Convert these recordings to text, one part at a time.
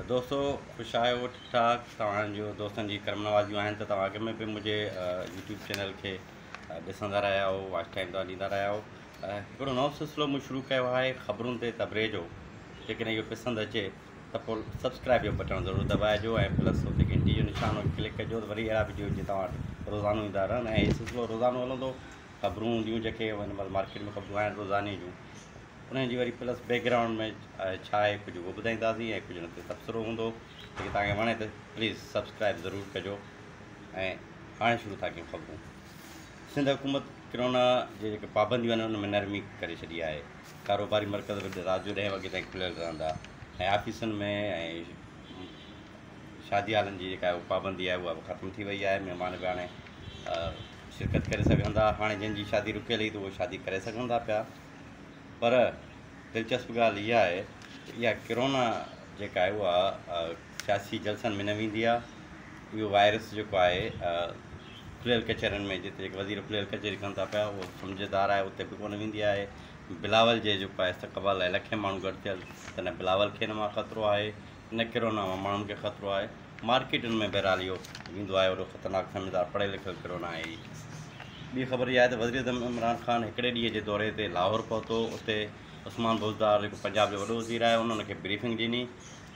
دوستو خوش آهيو ٺيڪ ٺاڪ توهان جو دوستن جي ڪرم نوازيون آهن ته توهان اڳ ۾ به منهنجي يوٽيوب چينل کي ڏسندا رهيا آهو واچ ٽائم توهان ڏيندا رهيا آهو هڪڙو نئون سلسلو مون شروع ڪيو آهي خبرون تي تبري جو جيڪڏهن اهو پسند اچي ته پوء سبسڪرائب جو بٽڻ ضرور دٻائجو ۽ پلس اتي گھنٽي جو نشان ڪلڪ ڪجو ته وري اهڙا ويڊيو جي توهان وٽ روزانو ايندا رهن ۽ هي سلسلو روزانو هلندو خبرون هونديون جيڪي هن مهل مارڪيٽ ۾ خبرون آهن روزاني جون انهن جي وري پلس بيڪ گرائونڊ ۾ ڇا آهي ڪجهه اهو ٻڌائينداسين ۽ ڪجهه ان تي تبصرو هوندو جيڪي توهان کي وڻي ته پليز سبسڪرائب ضرور ڪجو ۽ هاڻي شروع ٿا ڪيون خبرون سنڌ حڪومت ڪرونا جي جيڪي پابنديون آهن ان ۾ نرمي ڪري ڇڏي آهي ڪاروباري مرڪز به رات جو ڏهين وڳي تائين کليل رهندا ۽ آفيسن ۾ شادي هالن جي جيڪا پابندي آهي اها به ختم ٿي وئي آهي مهمان به هاڻي شرڪت ڪري سگهندا هاڻي جن جي شادي رڪيل هئي ته اهو شادي ڪري سگهن ٿا پيا پر دلچسپ ڳالهه اها آهي ته اها ڪرونا جيڪا آهي اها سياسي جلسن ۾ نه ويندي آهي اهو وائرس جيڪو آهي کليل ڪچهرين ۾ جتي جيڪي وزير کليل ڪچهري ڪن ٿا پيا اهو سمجهدار آهي اتي به ڪونه ويندي آهي بلاول جي جيڪو آهي استقبال لاء لکين ماڻهو گڏ ٿيل تڏهن بلاول کي نه مان خطرو آهي نه ڪرونا مان ماڻهن کي خطرو آهي، مارڪيٽن ۾ بهرحال اهو ويندو آهي وڏو خطرناڪ سمجهدار پڙهيل لکيل ڪرونا آهي ئي. ٻي خبر اها آهي ته وزيراعظم عمران خان هڪڙي ڏينهن جي دوري تي لاهور پهتو اتي عثمان بوزدار جيڪو پنجاب جو وڏو وزير آهي ان ان کي بريفنگ ڏني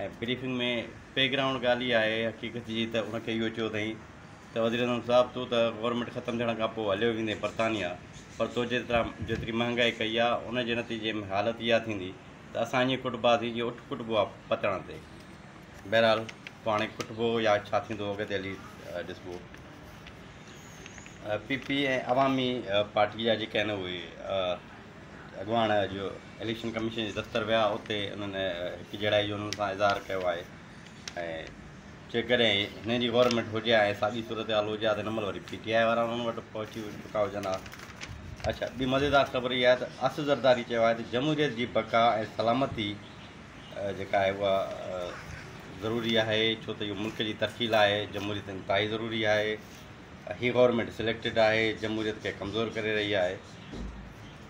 ۽ بريفنگ ۾ بيڪ گرائونڊ ڳالهه اها آهي حقيقت جي ته ان کي اهو چيو اٿائين ته وزيراعظم صاحب تون ته گورنمينٽ ختم ٿيڻ کان پوء هليو ويندين برطانيا پر تو جيترا جيتري مهانگائي ڪئي آهي ان جي نتيجي ۾ حالت اها ٿيندي ته اسان ائين ڪٽ بازي جي اٺ ڪٽ بوء پتڻ تي. بهرحال پوء هاڻي ڪٽ بوء يا ڇا ٿيندو اڳتي هلي ڏسبو. پي پي ۽ عوامي پارٽي جا جيڪي آهن اهي اڳواڻ اڄ اليڪشن ڪميشن جي دفتر ويا اتي انهن هڪجهڙائي جو انهن سان اظهار ڪيو آهي. ۽ جيڪڏهن هنن جي گورنمينٽ هجي ها ۽ ساڳي صورتحال هجي ها ته هن مهل وري پي ٽي آء وارا انهن وٽ پهچي چڪا هجن ها. اڇا ٻي مزيدار خبر اها آهي ته آصف زرداري چيو آهي ته جمهوريت جي بقا ۽ سلامتي جيڪا آهي اها ضروري آهي ڇو ته اهو ملڪ جي ترقي لاء جمهوريت انتهائي ضروري آهي. هي گورنمينٽ سليڪٽيڊ آهي جمهوريت کي ڪمزور ڪري رهي آهي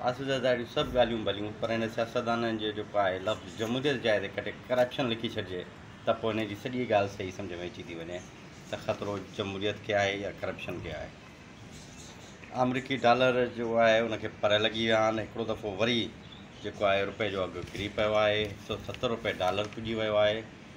آصف زرداري سڀ ڳالهيون ڀليون پر هن سياستدانن جو جيڪو آهي لفظ جمهوريت جاء تي ڪڏهن ڪرپشن لکي ڇڏجي ته پوء هن جي سڄي ڳالهه صحيح سمجهه ۾ اچي ٿي وڃي ته خطرو جمهوريت کي آهي يا ڪرپشن کي آهي آمريڪي ڊالر جو آهي ان کي پر لڳي ويا آهن هڪڙو دفعو وري جيڪو آهي روپئي جو اگهه ڪري پيو آهي هڪ سؤ ستر روپئي ڊالر پڄي ويو آهي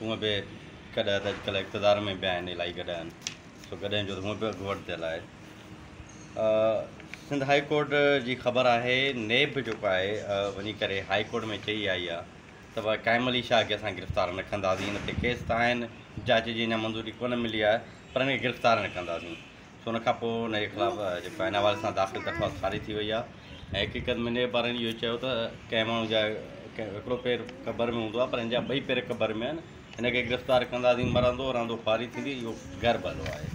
هونء به ڪڏهه ته اڄڪلهه اقتدار ۾ به آهن الائي ڪڏهه آهن سو ڪڏهن جو ته هونء به اڳواٽ ٿيل آهي سنڌ هائي ڪورٽ جي خبر آهي نيب به جيڪو آهي وڃي ڪري هائي ڪورٽ ۾ چئي آئي آهي ته ڀاء قائم علي شاهه کي اسان گرفتار نه ڪنداسين هن تي ڪيس ته آهن جاچ جي اڃا منظوري ڪونه ملي آهي پر هن کي گرفتار نه ڪنداسين سو ان کان پوء ان جي خلاف جيڪو آهي ان حوالي سان داخل درخواست خارج ٿي وئي آهي ۽ حقيقت ۾ نيب وارن اهو چيو ته ڪنهن ماڻهو جا ڪنهن هڪڙو پير قبر ۾ هوندو آهي پر هن جا ٻئي پير قبر ۾ آهن هن کي گرفتار ڪنداسين مرندو رهندو خواري ٿيندي اهو غير ڀلو آهي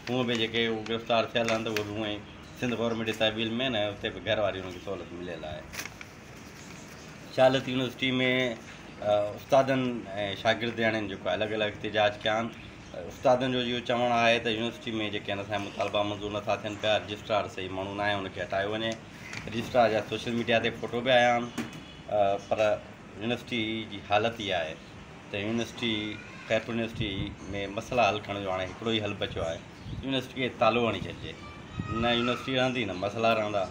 هونء به جيڪي هو گرفتار ٿيل آهن ته اهي به هونئن سنڌ گورنمينٽ جي تحويل ۾ آهن ۽ اتي به گهر واري هن کي سهولت مليل آهي شالت يونيورسٽي ۾ استادن ۽ شاگردياڻين جيڪو الڳ الڳ احتجاج ڪيا آهن استادن جو اهو چوڻ آهي ته يونيورسٽي ۾ جيڪڏهن اسان جا مطالبا منظور نٿا ٿين پيا، رجسٽرار صحيح ماڻهو ناهي ان کي هٽايو وڃي. رجسٽرار جا سوشل ميڊيا تي فوٽو به آيا آهن پر يونيورسٽي جي حالت اها آهي ته يونيورسٽي خيرپور يونيورسٽي ۾ مسئلا حل ڪرڻ جو هاڻي هڪڙو ئي حل بچيو آهي يونيورسٽي کي تالو هڻي ڇڏجي. نه يونيورسٽي رهندي نه مسئلا رهندا.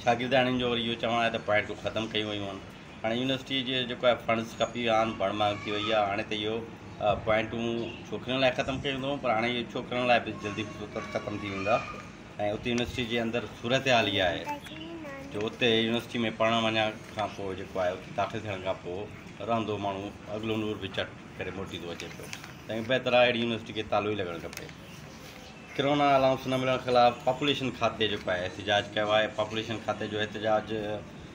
شاگردياڻين جو وري اهو چوڻ آهي ته پوائنٽون ختم ڪيون ويون آهن. هاڻي يونيورسٽي جي جيڪو آهي فنڊز ڪافي آهن بڻ مانگ ٿي وئي آهي هاڻي ته اهو پوائنٽون ڇوڪرين لاء ختم ڪيون اٿئون پر هاڻي اهي ڇوڪرن لاء به جلدي فقط ختم ٿي ويندا ۽ اتي يونيورسٽي جي اندر صورتحال اها آهي جو اتي يونيورسٽي ۾ پڙهڻ وڃڻ کان پوء جيڪو آهي اتي داخل ٿيڻ کان پوء رهندو ماڻهو اڳلو نور به چٽ ڪري موٽي ٿو اچي پيو تنهن کان بهتر آهي اهڙي يونيورسٽي کي تالو ئي لڳڻ کپي ڪرونا الاؤنس نه ملڻ خلاف پاپوليشن کاتي جيڪو آهي احتجاج ڪيو آهي پاپوليشن کاتي جو احتجاج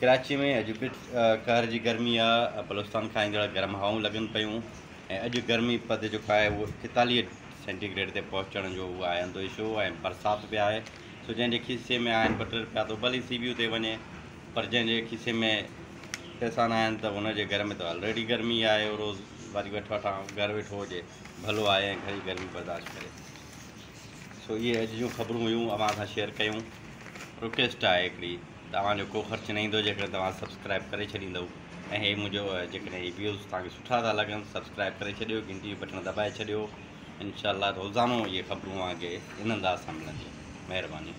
ڪراچي ۾ اڄ به قهر جي گرمي آ، بلوچستان کان ايندڙ گرم هوائون لڳن پيون ۽ اڄ گرمي پد جيڪو آهي اهو ايڪيتاليهه سينٽي گريڊ تي پهچڻ جو اهو آئندو اشو ۽ برسات به آهي سو جنهن جي کيسي ۾ آهن ٻه ٽي رپيا ته هو ڀلي سي بي يو تي وڃي پر جنهن جي کيسي ۾ پئسا ناهن ته ان جي گهر ۾ ته آلريڊي گرمي آهي اهو روز واري وٺ وٺان گهر ويٺو هجي ڀلو آهي ۽ گهري گرمي برداشت ڪري. سو اهي اڄ جون خبرون هيون اوهان سان شيئر ڪيون رڪويسٽ آهي هڪڙي ته اوهان جو ڪو خرچ نه ايندو جيڪڏهن توهان سبسڪرائب ڪري ڇڏيندؤ ۽ هي منهنجو جيڪڏهن هي ويوز توهان کي سٺا ٿا لڳن سبسڪرائب ڪري ڇڏيو گهنٽي جو بٽڻ دٻائي ڇڏيو انشاء الله روزانو اهي خبرون اوهان کي ان انداز سان ملنديون مهرباني